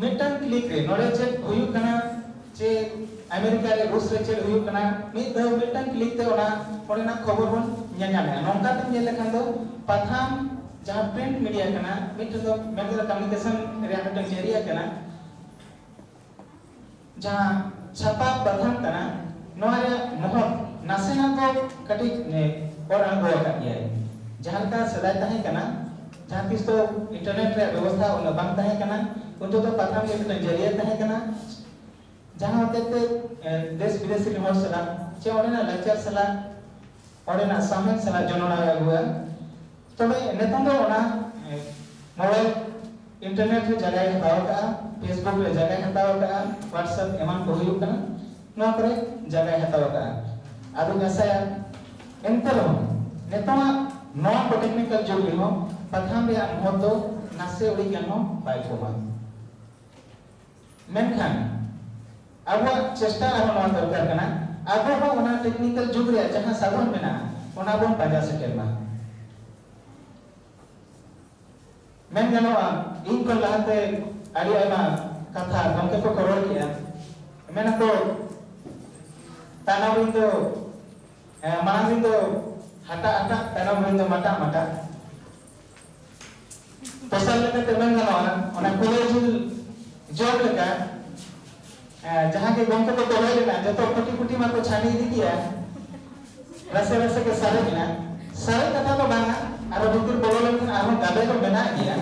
ᱢᱤᱫᱴᱟᱝ ᱠᱞᱤᱠ ᱨᱮ ᱱᱚᱰᱮ ᱪᱮᱫ ᱦᱩᱭᱩᱜ ᱠᱟᱱᱟ ᱡᱮ ᱟᱢᱮᱨᱤᱠᱟ ᱨᱮ ᱨᱩᱥ ᱨᱮ ᱪᱮᱫ ᱦᱩᱭᱩᱜ ᱠᱟᱱᱟ ᱢᱤᱫ ᱫᱷᱟᱣ ᱢᱤᱫᱴᱟᱝ ᱠᱞᱤᱠ ᱛᱮ ᱚᱱᱟ ᱚᱸᱰᱮᱱᱟᱜ ᱠᱷᱚᱵᱚᱨ ᱵᱚᱱ ᱧᱮᱧᱟᱢᱮᱜᱼᱟ ᱱᱚᱝᱠᱟ ᱛᱮ ᱧᱮᱞ ᱞᱮᱠᱷᱟᱱ ᱫᱚ ᱯᱟᱛᱷᱟᱢ ᱡᱟᱦᱟᱸ ᱯᱨᱤᱱᱴ ᱢᱤᱰᱤᱭᱟ ᱠᱟᱱᱟ ᱢᱤᱫᱴᱟᱝ ᱫᱚ ᱢᱮᱱ ᱠᱟᱛᱮ ᱠᱚᱢᱤᱭᱩᱱᱤᱠᱮᱥᱚᱱ ᱨᱮᱭᱟᱜ ᱢᱤᱫᱴᱟᱝ ᱡᱟᱹᱨᱤᱭᱟ ᱠᱟᱱᱟ ᱡᱟᱦᱟᱸ ᱪᱷᱟᱯᱟ ᱯᱟᱛᱷᱟᱢ ᱠᱟᱱᱟ ᱱᱚᱣᱟ ᱨᱮᱭᱟᱜ ᱢᱚᱦᱚᱛ ᱱᱟᱥᱮᱱᱟᱜ ᱫᱚ ᱠᱟᱹᱴᱤᱡ ᱚᱨ ᱟᱬᱜᱚ ᱟᱠᱟᱫ ᱜᱮᱭᱟᱭ ᱡᱟᱦᱟᱸ ᱞᱮᱠᱟ ᱥᱮᱫᱟᱭ ᱛᱟᱦᱮᱸ ᱠᱟᱱᱟ ᱡᱟᱦᱟᱸ ᱛᱤᱥ ᱫᱚ ᱤᱱᱴᱟᱨᱱᱮᱴ ᱨᱮᱭᱟᱜ ᱵᱮᱵᱚᱥᱛᱷᱟ ᱩᱱᱟᱹᱜ ᱵᱟᱝ ᱛᱟᱦᱮᱸ ᱠᱟᱱᱟ ᱩᱱ ᱛᱮᱫᱚ ᱯᱟᱛᱷᱟᱢ ᱜᱮ ᱢᱤᱫᱴᱟᱝ ᱡᱟᱹᱨᱤᱭᱟᱹ ᱛᱟᱦᱮᱸ ᱠᱟᱱᱟ ᱡᱟᱦᱟᱸ ᱦᱚᱛᱮᱡ ᱛᱮ ᱫᱮᱥ ᱵᱤᱫᱮᱥ ᱨᱮᱱ ᱦᱚᱲ ᱥᱟᱞᱟᱜ ᱪᱮ ᱚᱸᱰᱮᱱᱟᱜ ᱞᱟᱠᱪᱟᱨ ᱥᱟᱞᱟᱜ ᱚᱸᱰᱮᱱᱟᱜ ᱥᱟᱶᱦᱮᱫ ᱥᱟᱞᱟᱜ ᱡᱚᱱᱚᱲᱟᱣ ᱮ ᱟᱹᱜᱩᱣᱟ ᱛᱚᱵᱮ ᱱᱤᱛᱚᱝ ᱫᱚ ᱚᱱᱟ ᱢᱚᱬᱮ ᱤᱱᱴᱟᱨᱱᱮᱴ ᱨᱮ ᱡᱟᱭᱜᱟᱭ ᱦᱟᱛᱟᱣ ᱟᱠᱟᱫᱼᱟ ᱯᱷᱮᱥᱵᱩᱠ ᱨᱮ ᱡᱟᱭᱜᱟᱭ ᱦᱟᱛᱟᱣ ᱟᱠᱟᱫᱼᱟ ᱦᱳᱣᱟᱴᱥᱮᱯ ᱮᱢᱟᱱ ᱠᱚ ᱦᱩᱭᱩᱜ ᱠᱟᱱᱟ ᱱᱚᱣᱟ ᱠᱚᱨᱮ ᱡᱟᱭᱜᱟᱭ ᱦᱟᱛᱟᱣ ᱟᱠᱟᱫᱼᱟ ᱟᱫᱚᱧ ᱟᱥᱟᱭᱟ ᱮᱱᱛᱮ ᱨᱮᱦᱚᱸ ᱱᱤᱛᱚᱜᱟᱜ ᱱᱚᱣᱟ ᱠᱚ ᱴᱮᱠᱱᱤᱠᱟᱞ ᱡᱩᱜᱽ ᱨᱮᱦᱚᱸ ᱯᱟᱛᱷᱟᱢ ᱨᱮᱭᱟᱜ ᱢᱚᱦᱚᱛ ᱫᱚ ᱱᱟᱥᱮ ᱩᱲᱤᱡ ᱜᱟᱱ ᱦᱚᱸ ᱵᱟᱭ ᱠᱚᱢᱟ ᱢᱮᱱᱠᱷᱟᱱ ᱟᱵᱚᱣᱟᱜ ᱪᱮᱥᱴᱟ ᱟᱨᱦᱚᱸ ᱱᱚᱣᱟ ᱫᱚᱨᱠᱟᱨ ᱠᱟᱱᱟ ᱟᱵᱚ ᱦᱚᱸ ᱚᱱᱟ ᱴᱮᱠᱱᱤᱠᱟᱞ ᱡᱩᱜᱽ ᱨᱮᱭᱟᱜ ᱡᱟᱦᱟᱸ ᱥᱟᱫᱷᱚᱱ ᱢᱮᱱᱟᱜᱼᱟ ᱚᱱᱟ ᱵᱚᱱ ᱯᱟᱸᱡᱟ ᱥᱮᱴᱮᱨ ᱢᱟ ᱢᱮᱱ ᱜᱟᱱᱚᱜᱼᱟ ᱤᱧ ᱠᱷᱚᱱ ᱞᱟᱦᱟᱛᱮ ᱟᱹᱰᱤ ᱟᱭᱢᱟ ᱠᱟᱛᱷᱟ ᱜᱚᱢᱠᱮ ᱠᱚᱠᱚ ᱨᱚᱲ ᱠᱮᱜᱼᱟ ᱢᱮᱱᱟᱠᱚ ᱛᱟᱭᱱᱚᱢ ᱨᱤᱱ ᱫᱚ ᱢᱟᱲᱟᱝ ᱨᱤᱱ ᱫᱚ ᱦᱟᱴᱟᱜ ᱦᱟᱴᱟᱜ ᱛᱟᱭᱱᱚᱢ ᱨᱤᱱ ᱫᱚ ᱢᱟᱴᱟᱜ ᱢᱟᱴᱟᱜ ᱛᱮᱥᱟᱨ ᱞᱮᱠᱟᱛᱮ ᱢᱮᱱ ᱜᱟᱱᱚᱜᱼᱟ ᱚᱱᱟ ᱠᱚᱞᱮᱡᱩᱞ ᱡᱚᱢ ᱞᱮᱠᱟ ᱡᱟᱦᱟᱸ ᱜᱮ ᱜᱚᱢᱠᱮ ᱠᱚ ᱛᱚᱞᱮ ᱞᱮᱱᱟ ᱡᱚᱛᱚ ᱠᱩᱴᱤ ᱠᱩᱴᱤ ᱢᱟᱠᱚ ᱪᱷᱟᱹᱱᱤ ᱤᱫᱤ ᱠᱮᱜᱼᱟ ᱨᱟᱥᱮ ᱨᱟᱥᱮ ᱜᱮ ᱥᱟᱨᱮᱡ ᱮᱱᱟ ᱥᱟᱨᱮᱡ ᱠᱟᱛᱷᱟ ᱫᱚ ᱵᱟᱝᱟ ᱟᱨᱚ ᱵᱷᱤᱛᱤᱨ ᱵᱚᱞᱚ ᱞᱮᱱᱠᱷᱟᱱ ᱟᱨᱦᱚᱸ ᱜᱟᱵᱮ ᱫᱚ ᱢᱮᱱᱟᱜ ᱜᱮᱭᱟ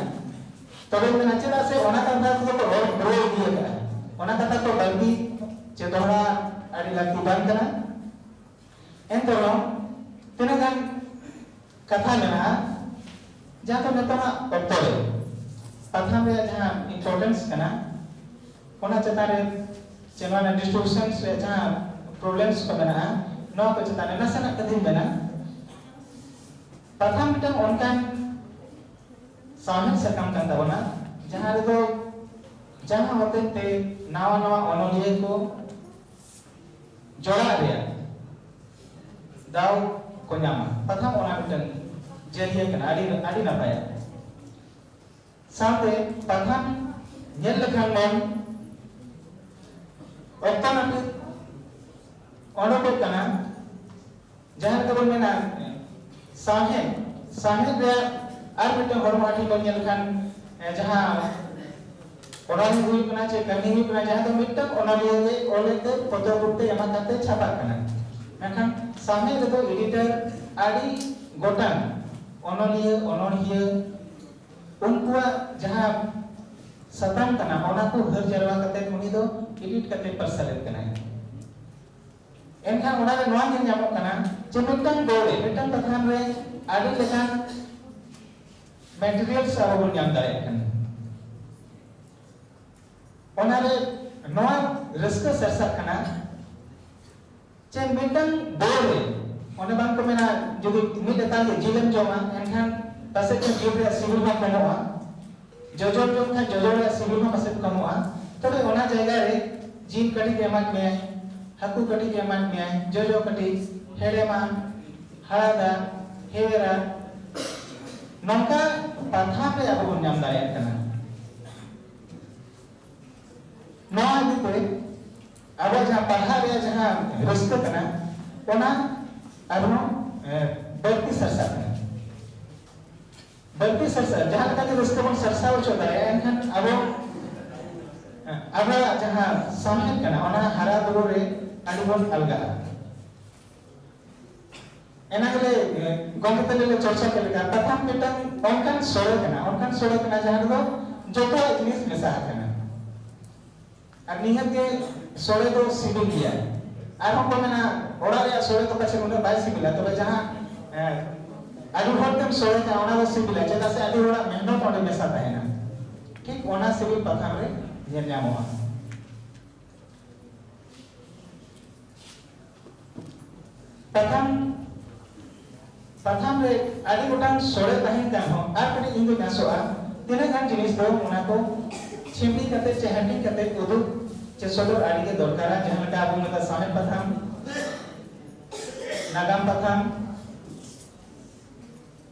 ᱛᱚᱵᱮ ᱢᱮᱱᱟ ᱪᱮᱫᱟᱜ ᱥᱮ ᱚᱱᱟ ᱠᱟᱛᱷᱟ ᱠᱚ ᱠᱚ ᱨᱚᱲ ᱯᱩᱨᱟᱹᱣ ᱤᱫᱤ ᱟᱠᱟᱫᱼᱟ ᱚᱱᱟ ᱠᱟᱛᱷᱟ ᱠᱚ ᱵᱟᱹᱲᱛᱤ ᱪᱮ ᱫᱚᱦᱲᱟ ᱟᱹᱰᱤ ᱞᱟᱹᱠᱛᱤ ᱵᱟᱝ ᱠᱟᱱᱟ ᱮᱱᱛᱮ ᱨᱮᱦᱚᱸ ᱛᱤᱱᱟᱹᱜ ᱜᱟᱱ ᱠᱟᱛᱷᱟ ᱢᱮᱱᱟᱜᱼᱟ ᱡᱟᱦᱟᱸ ᱫᱚ ᱱᱤᱛᱚᱜᱟᱜ ᱚᱠᱛᱚ ᱨᱮ ᱯᱟᱛᱷᱟᱢ ᱨᱮᱭᱟᱜ ᱡᱟᱦᱟᱸ ᱤᱢᱯᱚᱨᱴᱮᱱᱥ ᱠᱟᱱᱟ ᱚᱱᱟ ᱪᱮᱛᱟᱱ ᱨᱮ ᱥᱮ ᱱᱚᱣᱟ ᱨᱮᱱᱟᱜ ᱰᱤᱥᱴᱨᱤᱵᱤᱭᱩᱥᱚᱱ ᱨᱮᱭᱟᱜ ᱡᱟᱦᱟᱸ ᱯᱨᱚᱵᱞᱮᱢᱥ ᱠᱚ ᱢᱮᱱᱟᱜᱼᱟ ᱱᱚᱣᱟ ᱠᱚ ᱪᱮᱛᱟᱱ ᱨᱮ ᱱᱟᱥᱮᱱᱟᱜ ᱠᱟᱛᱷᱟᱧ ᱢᱮᱱᱟ ᱯᱟᱛᱷᱟᱢ ᱢᱤᱫᱴᱟᱝ ᱚᱱᱠᱟᱱ ᱥᱟᱶᱦᱮᱫ ᱥᱟᱠᱟᱢ ᱠᱟᱱ ᱛᱟᱵᱚᱱᱟ ᱡᱟᱦᱟᱸ ᱨᱮᱫᱚ ᱡᱟᱦᱟᱸ ᱦᱚᱛᱮᱡ ᱛᱮ ᱱᱟᱣᱟ ᱱᱟᱣᱟ ᱚᱱᱚᱞᱤᱭᱟᱹ ᱠᱚ ᱡᱚᱲᱟᱜ ᱨᱮᱭᱟᱜ ᱫᱟᱣ ᱠᱚ ᱧᱟᱢᱟ ᱯᱟᱛᱷᱟᱢ ᱚᱱᱟ ᱢᱤᱫᱴᱟᱝ ᱡᱟᱹᱨᱤᱭᱟᱹ ᱠᱟᱱᱟ ᱟᱹᱰᱤ ᱟᱹᱰᱤ ᱱᱟᱯᱟᱭᱟ ᱥᱟᱶᱛᱮ ᱯᱟᱛᱷᱟᱢ ᱧᱮᱞ ᱞᱮᱠᱷᱟᱱ ᱵᱚᱱ ᱚᱠᱛᱚ ᱱᱟᱹᱯᱤᱛ ᱚᱰᱚᱠᱚᱜ ᱠᱟᱱᱟ ᱡᱟᱦᱟᱸ ᱞᱮᱠᱟ ᱵᱚᱱ ᱢᱮᱱᱟ ᱥᱟᱶᱦᱮᱫ ᱥᱟᱶᱦᱮᱫ ᱨᱮᱭᱟᱜ ᱟᱨ ᱢᱤᱫᱴᱟᱝ ᱦᱚᱲᱢᱚ ᱦᱟᱹᱴᱤᱧ ᱵᱚᱱ ᱧᱮᱞ ᱞᱮᱠᱷᱟᱱ ᱡᱟᱦᱟᱸ ᱚᱱᱚᱞᱤᱭᱟᱹ ᱦᱩᱭᱩᱜ ᱠᱟᱱᱟ ᱪᱮ ᱠᱟᱹᱦᱱᱤ ᱦᱩᱭᱩᱜ ᱠᱟᱱᱟ ᱡᱟᱦᱟᱸ ᱫᱚ ᱢᱤᱫᱴᱟᱝ ᱚᱱᱚᱞᱤᱭᱟᱹ ᱜᱮ ᱚᱞᱮᱫ ᱛᱮ ᱯᱚᱛᱚᱵ ᱨᱩᱯ ᱛᱮ ᱮᱢᱟ ᱠᱟᱛᱮ ᱪᱷᱟᱯᱟᱜ ᱠᱟᱱᱟ ᱢᱮᱱᱠᱷᱟᱱ ᱥᱟᱶᱦᱮᱫ ᱨᱮᱫᱚ ᱮᱰᱤᱴᱚᱨ ᱟᱹᱰᱤ ᱜᱚᱴᱟᱝ ᱚᱱᱚᱞᱤᱭᱟᱹ ᱚᱱᱚᱲᱦᱤᱭᱟᱹ ᱩᱱᱠᱩᱣᱟᱜ ᱡᱟᱦᱟᱸ ᱥᱟᱛᱟᱢ ᱠᱟᱱᱟ ᱚᱱᱟ ᱠᱚ ᱦᱟᱹᱨ ᱡᱟᱨᱣᱟ ᱠᱟᱛᱮ ᱩᱱᱤ ᱫᱚ ᱮᱰᱤᱴ ᱠᱟᱛᱮ ᱯᱟᱨᱥᱟᱞᱮᱫ ᱠᱟᱱᱟᱭ ᱮᱱᱠᱷᱟᱱ ᱚᱱᱟ ᱨᱮ ᱱᱚᱣᱟ ᱧᱮᱞ ᱧᱟᱢᱚᱜ ᱠᱟᱱᱟ ᱡᱮ ᱢᱤᱫᱴᱟᱝ ᱰᱚ ᱨᱮ ᱢᱤᱫᱴᱟᱝ ᱯᱟᱛᱷᱟᱢ ᱨᱮ ᱟᱹᱰᱤ ᱞᱮᱠᱟᱱ ᱢᱮᱴᱮᱨᱤᱭᱟᱞᱥ ᱟᱵᱚ ᱵᱚᱱ ᱧᱟᱢ ᱫᱟᱲᱮᱭᱟᱜ ᱠᱟᱱᱟ ᱚᱱᱟ ᱨᱮ ᱱᱚᱣᱟ ᱨᱟᱹᱥᱠᱟᱹ ᱥᱟᱨᱥᱟᱜ ᱠᱟᱱᱟ ᱡᱮ ᱢᱤᱫᱴᱟᱝ ᱰᱚ ᱨᱮ ᱚᱱᱮ ᱵᱟᱝ ᱠᱚ ᱢᱮᱱᱟ ᱡᱩᱫᱤ ᱢᱤᱫ ᱞᱮᱛᱟᱲ ᱜᱮ ᱡᱤᱞᱮᱢ ᱡᱚᱢᱟ ᱮᱱᱠᱷᱟᱱ ᱯᱟᱥᱮᱡ ᱡᱤᱞ ᱨᱮᱭᱟᱜ ᱥᱤᱵᱤᱞ ᱵᱟᱝ ᱠᱚᱢᱚᱜᱼᱟ ᱡᱚᱡᱚᱢ ᱡᱚᱢ ᱠᱷᱟᱱ ᱡᱚᱡᱚ ᱨᱮᱭᱟᱜ ᱥᱤᱵᱤᱞ ᱦᱚᱸ ᱯᱟᱥᱮᱡ ᱠᱚᱢᱚᱜᱼᱟ ᱛᱚᱵᱮ ᱚᱱᱟ ᱡᱟᱭᱜᱟ ᱨᱮ ᱡᱤᱞ ᱠᱟᱹᱴᱤᱡ ᱮᱢᱟᱫ ᱢᱮᱭᱟᱭ ᱦᱟᱹᱠᱩ ᱠᱟᱹᱴᱤᱡ ᱮᱢᱟᱫ ᱢᱮᱭᱟᱭ ᱡᱚᱡᱚ ᱠᱟᱹᱴᱤᱡ ᱦᱮᱲᱮᱢᱟ ᱦᱟᱲᱟᱫᱟ ᱦᱮᱣᱮᱨᱟ ᱱᱚᱝᱠᱟ ᱯᱟᱛᱷᱟᱢ ᱨᱮ ᱟᱵᱚ ᱵᱚᱱ ᱧᱟᱢ ᱫᱟᱲᱮᱭᱟᱜ ᱠᱟᱱᱟ ᱱᱚᱣᱟ ᱤᱫᱤᱛᱮ ᱟᱵᱚ ᱡᱟᱦᱟᱸ ᱯᱟᱲᱦᱟᱜ ᱨᱮᱭᱟᱜ ᱡᱟᱦᱟᱸ ᱨᱟᱹᱥᱠᱟᱹ ᱠᱟᱱᱟ ᱚᱱᱟ ᱟᱨᱦᱚᱸ ᱵᱟᱹᱲᱛᱤ ᱥᱟᱨᱥᱟᱜ ᱠᱟᱱᱟ ᱫᱷᱟᱹᱨᱛᱤ ᱥᱟᱨᱥᱟᱣ ᱡᱟᱦᱟᱸ ᱞᱮᱠᱟ ᱜᱮ ᱨᱟᱹᱥᱠᱟᱹ ᱵᱚᱱ ᱥᱟᱨᱥᱟᱣ ᱦᱚᱪᱚ ᱫᱟᱲᱮᱭᱟᱜᱼᱟ ᱮᱱᱠᱷᱟᱱ ᱟᱵᱚ ᱟᱵᱚᱣᱟᱜ ᱡᱟᱦᱟᱸ ᱥᱟᱶᱦᱮᱫ ᱠᱟᱱᱟ ᱚᱱᱟ ᱦᱟᱨᱟ ᱵᱩᱨᱩ ᱨᱮ ᱟᱹᱰᱤ ᱵᱚᱱ ᱟᱞᱜᱟᱜᱼᱟ ᱮᱱᱟ ᱜᱮᱞᱮ ᱜᱚᱢᱠᱮ ᱛᱟᱞᱮ ᱞᱮ ᱪᱚᱨᱪᱟ ᱠᱮᱫ ᱞᱮᱠᱟ ᱯᱟᱛᱷᱟᱢ ᱢᱤᱫᱴᱟᱝ ᱚᱱᱠᱟᱱ ᱥᱚᱲᱮ ᱠᱟᱱᱟ ᱚᱱᱠᱟᱱ ᱥᱚᱲᱮ ᱠᱟᱱᱟ ᱡᱟᱦᱟᱸ ᱨᱮᱫᱚ ᱡᱚᱛᱚᱣᱟᱜ ᱡᱤᱱᱤᱥ ᱢᱮᱥᱟ ᱟᱠᱟᱱᱟ ᱟᱨ ᱱᱤᱦᱟᱹᱛ ᱜᱮ ᱥᱚᱲᱮ ᱫᱚ ᱥᱤᱵᱤᱞ ᱜᱮᱭᱟ ᱟᱨᱦᱚᱸ ᱠᱚ ᱢᱮᱱᱟ ᱚᱲᱟᱜ ᱨᱮᱭᱟᱜ ᱥᱚᱲᱮ ᱫᱚ ᱯᱟᱪᱮ ᱩᱱᱟᱹᱜ ᱵᱟᱭ ᱥᱤᱵᱤᱞᱟ ᱛᱚᱵᱮ ᱡᱟᱦᱟᱸ ᱟᱹᱰᱤ ᱦᱚᱲ ᱛᱮᱢ ᱥᱚᱲᱮ ᱠᱟᱜᱼᱟ ᱚᱱᱟ ᱫᱚ ᱥᱤᱵᱤᱞᱟ ᱪᱮᱫᱟᱜ ᱥᱮ ᱟᱹᱰᱤ ᱦᱚᱲᱟᱜ ᱢᱮᱦᱱᱚᱛ ᱚᱸᱰᱮ ᱢᱮᱥᱟ ᱛᱟᱦᱮᱱᱟ ᱴᱷᱤᱠ ᱚᱱᱟ ᱥᱤᱵᱤᱞ ᱯᱟᱛᱷᱟᱢ ᱨᱮ ᱧᱮᱞ ᱧᱟᱢᱚᱜᱼᱟ ᱯᱟᱛᱷᱟᱢ ᱯᱟᱛᱷᱟᱢ ᱨᱮ ᱟᱹᱰᱤ ᱜᱚᱴᱟᱝ ᱥᱚᱲᱮ ᱛᱟᱦᱮᱱ ᱠᱟᱱ ᱦᱚᱸ ᱟᱨ ᱠᱟᱹᱴᱤᱡ ᱤᱧ ᱫᱚᱧ ᱟᱥᱚᱜᱼᱟ ᱛᱤᱱᱟᱹᱜ ᱜᱟᱱ ᱡᱤᱱᱤᱥ ᱫᱚ ᱚᱱᱟ ᱠᱚ ᱪᱷᱤᱢᱵᱤ ᱠᱟᱛᱮ ᱪᱮ ᱦᱟᱹᱴᱤᱧ ᱠᱟᱛᱮ ᱩᱫᱩᱜ ᱪᱮ ᱥᱚᱫᱚᱨ ᱟᱹᱰᱤ ᱜᱮ ᱫᱚᱨᱠᱟᱨᱟ ᱡᱟᱦᱟᱸ ᱞᱮᱠᱟ ᱟᱵᱚ ᱢᱮᱛᱟ ᱥᱟᱶᱦᱮᱫ ᱯᱟᱛᱷᱟᱢ ᱱᱟᱜᱟᱢ ᱯᱟᱛᱷᱟᱢ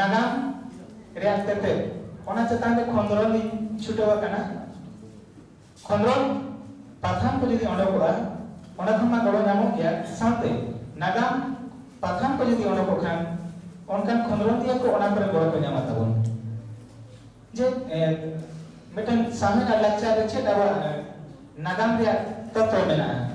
ᱱᱟᱜᱟᱢ ᱨᱮᱭᱟᱜ ᱛᱮᱛᱮᱫ ᱚᱱᱟ ᱪᱮᱛᱟᱱ ᱨᱮ ᱠᱷᱚᱸᱫᱽᱨᱚᱱ ᱤᱧ ᱪᱷᱩᱴᱟᱹᱣ ᱟᱠᱟᱱᱟ ᱠᱷᱚᱸᱫᱽᱨᱚᱱ ᱯᱟᱛᱷᱟᱢ ᱠᱚ ᱡᱩᱫᱤ ᱚᱰᱚᱠᱚᱜᱼᱟ ᱚᱸᱰᱮ ᱠᱷᱚᱱ ᱢᱟ ᱜᱚᱲᱚ ᱧᱟᱢᱚᱜ ᱜᱮᱭᱟ ᱥᱟᱶᱛᱮ ᱱᱟᱜᱟᱢ ᱯᱟᱛᱷᱟᱢ ᱠᱚ ᱡᱩᱫᱤ ᱚᱰᱚᱠᱚᱜ ᱠᱷᱟᱱ ᱚᱱᱠᱟᱱ ᱠᱷᱚᱸᱫᱽᱨᱚᱱᱤᱭᱟᱹ ᱠᱚ ᱚᱱᱟ ᱠᱚᱨᱮ ᱜᱚᱲᱚ ᱠᱚ ᱧᱟᱢᱟ ᱛᱟᱵᱚᱱ ᱡᱮ ᱢᱤᱫᱴᱟᱝ ᱥᱟᱶᱦᱮᱫ ᱟᱨ ᱞᱟᱠᱪᱟᱨ ᱨᱮ ᱪᱮᱫ ᱟᱵᱚᱣᱟᱜ ᱱᱟᱜᱟᱢ ᱨᱮᱭᱟᱜ ᱛᱚᱛᱛᱚ ᱢᱮᱱᱟᱜᱼᱟ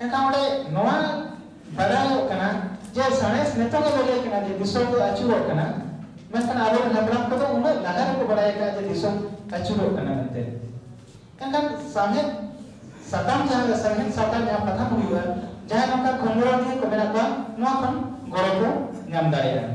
ᱮᱱᱠᱷᱟᱱ ᱚᱸᱰᱮ ᱱᱚᱣᱟ ᱵᱟᱰᱟᱭᱚᱜ ᱠᱟᱱᱟ ᱡᱮ ᱥᱟᱬᱮᱥ ᱱᱤᱛᱚᱜ ᱜᱮ ᱵᱟᱰᱟᱭ ᱠᱟᱱᱟ ᱡᱮ ᱫᱤᱥᱚᱢ ᱫᱚ ᱟᱹᱪᱩᱨᱚᱜ ᱠᱟᱱᱟ ᱢᱮᱱᱠᱷᱟᱱ ᱟᱵᱚᱨᱮᱱ ᱦᱟᱯᱲᱟᱢ ᱠᱚᱫᱚ ᱩᱱᱟᱹᱜ ᱞᱟᱦᱟ ᱨᱮᱠᱚ ᱵᱟᱰᱟᱭ ᱟᱠᱟᱫᱼᱟ ᱡᱮ ᱫᱤᱥᱚᱢ ᱟᱹᱪᱩᱨᱚᱜ ᱠᱟᱱᱟ ᱢᱮᱱᱛᱮ ᱮᱱᱠᱷᱟᱱ ᱥᱟᱶᱦᱮᱫ ᱥᱟᱛᱟᱢ ᱡᱟᱦᱟᱸ ᱥᱟᱶᱦᱮᱫ ᱥᱟᱛᱟᱢ ᱡᱟᱦᱟᱸ ᱯᱟᱛᱷᱟᱢ ᱦᱩᱭᱩᱜᱼᱟ ᱡᱟᱦᱟᱸᱭ ᱱᱚᱝᱠᱟ ᱠᱷᱚᱸᱫᱽᱨᱚᱱᱤᱭᱟᱹ ᱠᱚ ᱢᱮᱱᱟᱜ ᱠᱚᱣᱟ ᱱᱚᱣᱟ ᱠᱷᱚᱱ ᱜᱚᱲᱚ ᱠᱚ ᱧᱟᱢ ᱫᱟᱲᱮᱭᱟᱜᱼᱟ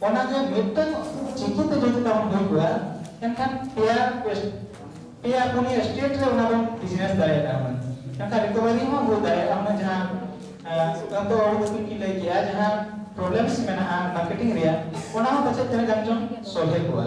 ᱚᱱᱟ ᱜᱮ ᱢᱤᱫᱴᱟᱝ ᱪᱤᱠᱤ ᱛᱮ ᱡᱩᱫᱤ ᱛᱟᱵᱚᱱ ᱦᱩᱭ ᱠᱚᱜᱼᱟ ᱮᱱᱠᱷᱟᱱ ᱯᱮᱭᱟ ᱯᱮᱭᱟ ᱯᱩᱱᱭᱟ ᱥᱴᱮᱴ ᱨᱮ ᱚᱱᱟ ᱵᱚᱱ ᱵᱤᱡᱽᱱᱮᱥ ᱫᱟᱲᱮᱭᱟᱜᱼᱟ ᱦᱩᱱᱟᱹᱝ ᱮᱱᱠᱷᱟᱱ ᱨᱤᱠᱚᱵᱷᱟᱨᱤ ᱦᱚᱸ ᱦᱩᱭ ᱫᱟᱲᱮᱭᱟᱜᱼᱟ ᱦᱩᱱᱟᱹᱝ ᱡᱟᱦᱟᱸ ᱟᱱᱛᱚ ᱚᱲᱤ ᱫᱤᱯᱤᱞ ᱠᱤᱱ ᱞᱟᱹᱭ ᱠᱮᱜᱼᱟ ᱡᱟᱦᱟᱸ ᱯᱨᱚᱵᱞᱮᱢᱥ ᱢᱮᱱᱟᱜᱼᱟ ᱢᱟᱨᱠᱮᱴᱤᱝ ᱨᱮᱭᱟᱜ ᱚᱱᱟ ᱦᱚᱸ ᱯᱟᱪᱮᱫ ᱛᱤᱱᱟᱹᱜ ᱜᱟᱱ ᱪᱚᱝ ᱥᱚᱞᱦᱮ ᱠᱚᱜᱼᱟ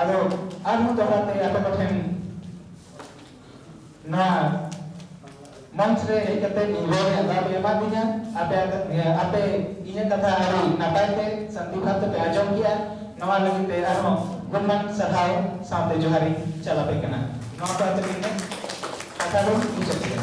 ᱟᱫᱚ ᱟᱨᱦᱚᱸ ᱫᱚᱦᱲᱟᱛᱮ ᱟᱯᱮ ᱠᱚᱴᱷᱮᱱ ᱱᱚᱣᱟ ᱢᱚᱧᱪ ᱨᱮ ᱦᱮᱡ ᱠᱟᱛᱮ ᱤᱧ ᱨᱚᱲ ᱨᱮᱭᱟᱜ ᱫᱟᱣ ᱯᱮ ᱮᱢᱟᱫᱤᱧᱟ ᱟᱯᱮ ᱟᱯᱮ ᱤᱧᱟᱹᱜ ᱠᱟᱛᱷᱟ ᱟᱹᱰᱤ ᱱᱟᱯᱟᱭ ᱛᱮ ᱥᱟᱱᱛᱤ ᱵᱷᱟᱵ ᱛᱮᱯᱮ ᱟᱸᱡᱚᱢ ᱠᱮᱜᱼᱟ ᱱᱚᱣᱟ ᱞᱟᱹᱜᱤᱫ ᱛᱮ ᱟᱨᱦᱚᱸ ᱜᱩᱱᱢᱟᱱ ᱥᱟᱨᱦᱟᱣ ᱥᱟᱶᱛᱮ ᱡᱚᱦᱟᱨᱤᱧ ᱪᱟᱞ ᱟᱯᱮ ᱠᱟᱱᱟ ᱱᱚᱣᱟ ᱠᱚ ᱟᱛᱮ ᱤᱧ ᱠᱟᱛᱷᱟ ᱫᱚ ᱢᱩᱪᱟᱹᱫ ᱠᱮᱫᱟ